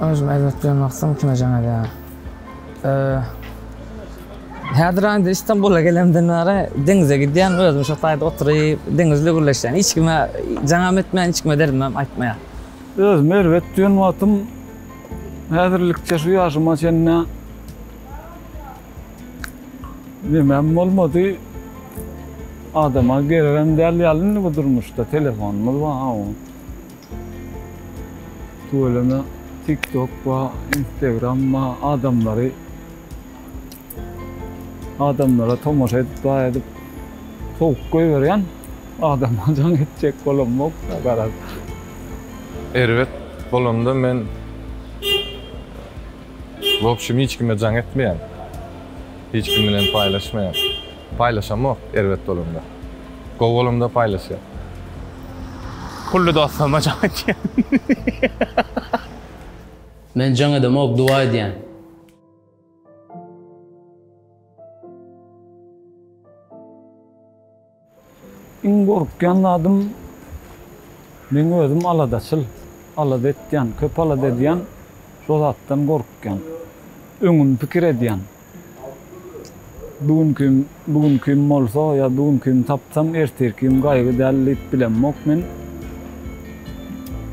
Özümi erbet bilen baksam kime jaň edýär. Häzir indi İstanbul'a gelemden bäri deňize gidýän, özüm şu taýda oturyp, deňizle gürleşýän. Hiç kime jaňam etmeýän, hiç kime derdimem aýtmaýan. Özümi erbet duýan wagtym häzirlikçe şu ýaşyma çenli Nemem bolmady. Adama geregem däl ýaly indi bu durmuşda telefonymyz bar ha oň. Tüweleme TikTok bar, Instagram bar, adamlary adamlara tomaşa edip bar edip sowuk goýberýän. Adama jaň etjek bolamok garaz. Erbet bolanda men W opşim hiç kime jaň etmeýän. Hiç kim bilen paýlaşmaýan. Paýlaşamok erbet bolanda. Gowy bolanda paýlaşýan. Pully dostlaryma jaň etýän. Men jaň edemok duwa edýän. Iň gorkýan zadym, meň özüm aladaçyl, alada etýän, köp alada edýän, şo zatdan gorkýan. Öňümi pikir edýän. Bu günki bu günkim bolsa ýa bu günkim tapsam, ertirkim gaýgy däl diýip bilemok men.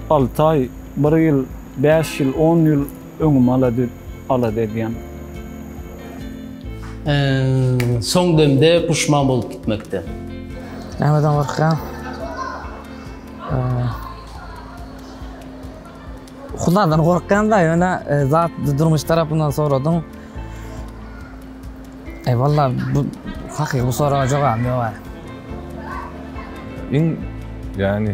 Alty aý, bir ýyl, bäş ýyl, on ýyl Öňüm ala düz ala degýän. Soň demde puşman bolup gitmekden. Nämeden gorkýaň? Hudadan gorkýan-da, ýöne zat durmuş tarapyndan soradyň. Eý, walla bu hakyky bu soraga jogabym ýoga. Iň, ýagny,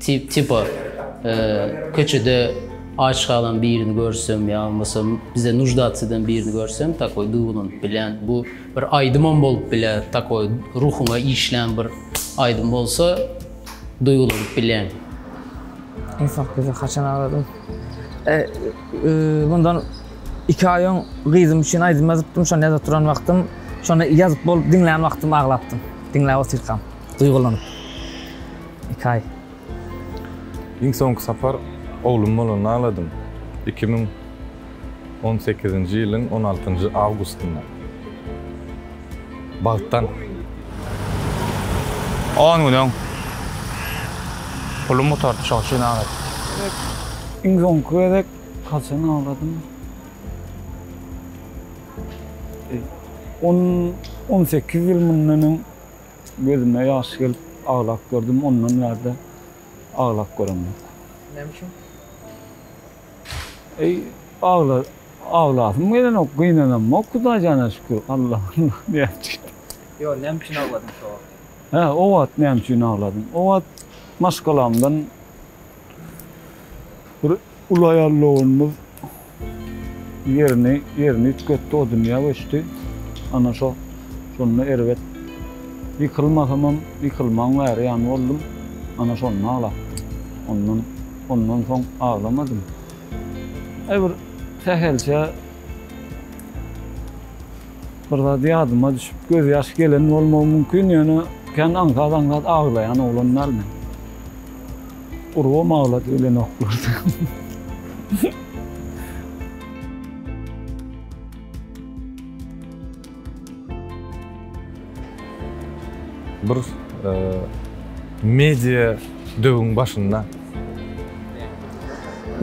Tiba, köçede aç galan birini görsem ýa bolmasa bize nuždatsy eden birini görsem takoý duýgulanyp bilýän. Bu bir aýdymam bolup biler, takoý ruhuňa işlän bir aýdym bolsa duýgulanyp bilýän. Iň soň gyzy haçan agradym? Mundan iki aý öň gyzym üçin aýdym ýazypdym, şony ýazyp duran wagtym, şony ýazyp bolup diňlän wagtym aglapdym. Diňläp otyrkam duýgulanyp. Iki aý. Iň soňky sapar oglum bolanda agladym. Iki müň on sekizinji ýylyň on altynjy awgustynda. Bagtdan. On gün öň. Pulum gutardy, şoň üçin agladym. Iň soňky gezek haçan agladym? On, on sekiz ýyl mundan öň. Gözüme ýaş gelip aglap gördüm, ondan bärde aglap görem ýok. Näme üçin? Eý, agla, aglasym gelenok, gynanamok Hudaý jana şükür, Allah, Allah diýäs diýdi. Ýok, näme üçin agladyň şo wagt? Hä, o wagt näme üçin agladym? O wagt maşgalamdan bir Uly aýal doganymyz ýerini ýerini üýtgetdi, o dünýä göçdi. Ana şo, şonda erbet ýykylmasamam, ýykylman bäri ýan boldum. Ana şonda aglapdym. Ondan, ondan soň aglamadym. Aý bir sähelçe bir zat ýadyma düşüp, gözýaş gelen bolmagy mümkin, ýöne kän aňsat-aňsat aglaýan oglan däl men. Urubam aglady gelenoklar. Bir media döwüň başynda.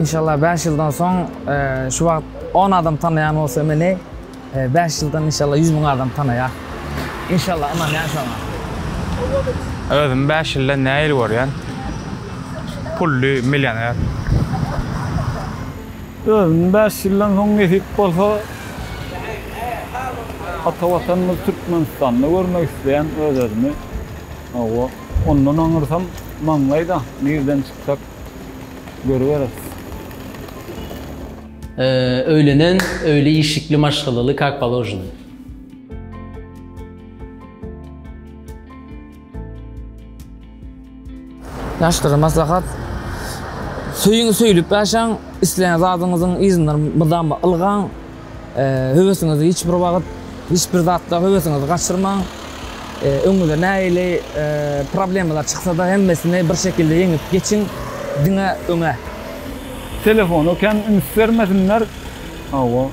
Inşallah bäş ýyldan soň şu wagt on adam tanaýan bolsa meni. Bäş ýyldan inşallah ýüz müň adam tanaýar. İnşallah ynanýan şoňa. Özüm bäş ýyldan näil görýän. Pully milýoner. Özüm bäş ýyldan soň nesip bolsa ata watanymyz Türkmenistanda görmek isleýän öz özümi. Hawa ondan aňyrsam maňlaýda nirden çykjak görüberis. Öýlenen, öýli işikli maşgalaly kak položeno. Ýaşlara maslahat. Söýüň, söýlüp ýaşaň, isleýän zadyňyzyň yzyndan mydama ylgaň. Höwesiňizi hiç bir wagt, hiç bir zatda höwesiňizi gaçyrmaň. Öňüňize nähili problemalar çyksa-da, hemmesini bir şekilde ýeňip geçiň. Diňe öňe! Telefona kem üns bermesinler. Hawa.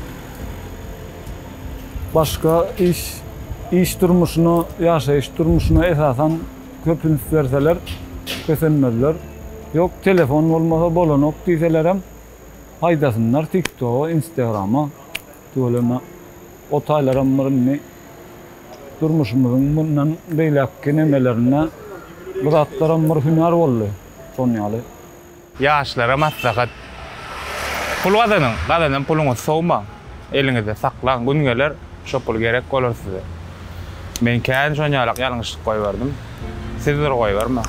Başga iş, iş durmuşyna, ýaşaýyş durmuşyna esasan köp üns berseler, kösenmezler. Ýok, telefon bolmasa bolanok diýselerem, haýdasynlar TikToga, Instagrama. Tüweleme. O taýlaram bir indi durmuşymyzyň mundan beýläkki nemelerinde bu zatlaram bir hünär boldy. Şonuň ýaly. Ýaşlara maslahat, Pul gazanyň, gazanan puluňyzy sowmaň, eliňizde saklaň, gün geler, şo pul gerek bolar size. Men kän şonýalak ýalňyşlyk goýberdim. Siz bir goýbermäň.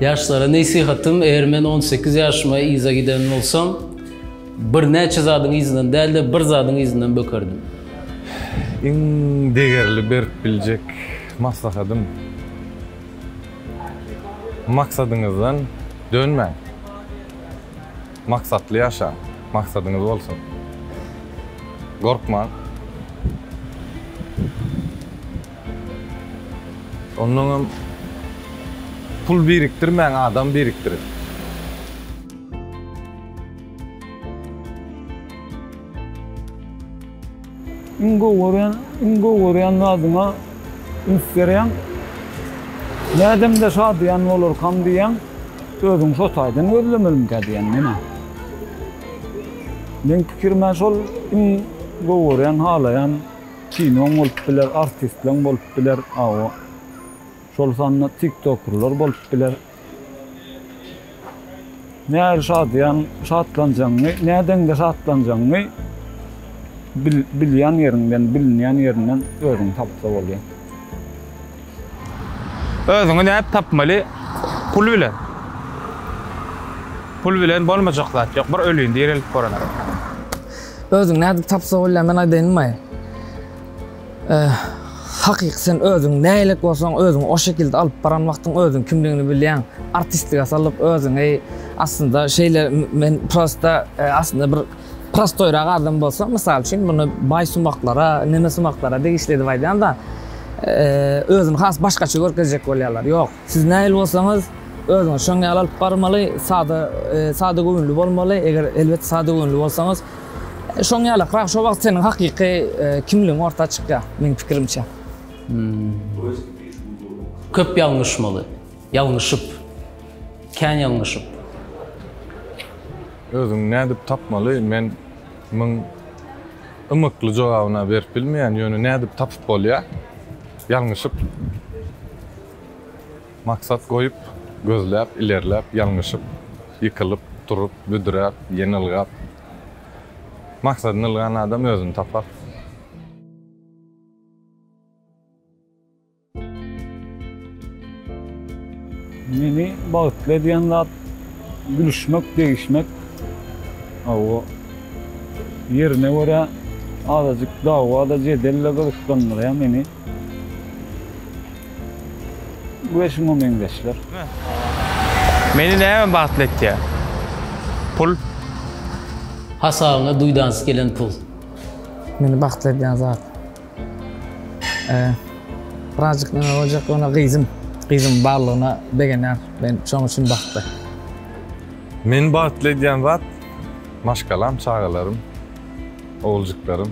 Ýaşlara nesihatym, eger men on sekiz ýaşyma yza giden bolsam, birnäçe zadyň yzyndan däl-de, bir zadyň yzyndan bökerdim. Iň degerli berip biljek maslahatym. Maksadyňyzdan dönmäň. Maksatly ýaşaň. Maksadyňyz bolsun. Gorkmaň. Ondan hem pul birikdirmäň, adam birikdiriň. Iň gowy görýän, iň gowy görýän zadyňa üns berýäň. Nädemde şadyýan bolarkam diýýäň. Özüň şo taýdan gözlemelimikä diýýän menä. Meň pikirime şol iň gowy görýän, halaýan kinoň bolup biler, artistleň bolup biler, aw, şol sanda tiktokerler bolup biler. Nähili şadyýan şatlanjagyňy, nädeňde şatlanjagyňy bilýän ýeriňden, bilinýän ýerinden özüňi tapsa bolýar. Özüňi nädip tapmaly? Pul bilen. Pul bilen bolmajak zat ýok. Bir ölin, direlip göreniň. Özüňi nädip tapsa bolýar, men aýdaýynmy? Hakyky sen özüň näilik bolsaň özüňi o şekilde alyp baran wagtyň özüň kimligini bilýäň. Artistlige salyp özüňi aslynda şeýle men prosta e, aslynda bir prostoýrak adam bolsam mysal üçin muny baý sumaklara, neme sumaklara degişli edip aýdýan da e, özüni has başgaça görkezjek bolýarlar. Ýok. Siz nähili bolsaňyz, özüňizi şoň ýaly alyp barmaly, sada, sada göwünli bolmaly, eger elbet sada göwünli bolsaňyz, şoň ýalykrak, şo wagt seniň hakyky kimligiň orta çykýar, meň pikirimçe. Köp ýalňyşmaly, ýalňyşyp, kän ýalňyşyp. Özüňi nädip tapmaly, men müň. ymykly jogabyna berip bilmeýän, ýöne nädip tapyp bolýa? Ýalňyşyp maksat goýup, gözläp, ilerläp, ýalňyşyp, ýykylyp, turup, büdräp, ýene ylgap. Maksadyny ylgan adam özüni tapar. Meni bagtly edýän zat gülüşmek, degişmek. Hawa, ýerine görä azajyk dawa-da, jedel-de gyzyklandyrýar meni we şuňa meňzeşler. Meni näme bagtly etýär? Pul. Hasabyňa duýdansy gelen pul. Meni bagtly edýän zat. Birazjyk näme boljak ýöne gyzym. Gyzym barlygyna begenýän. Men şoň üçin bagtly. Meni bagtly edýän zat maşgalam, çagalarym, oguljyklarym.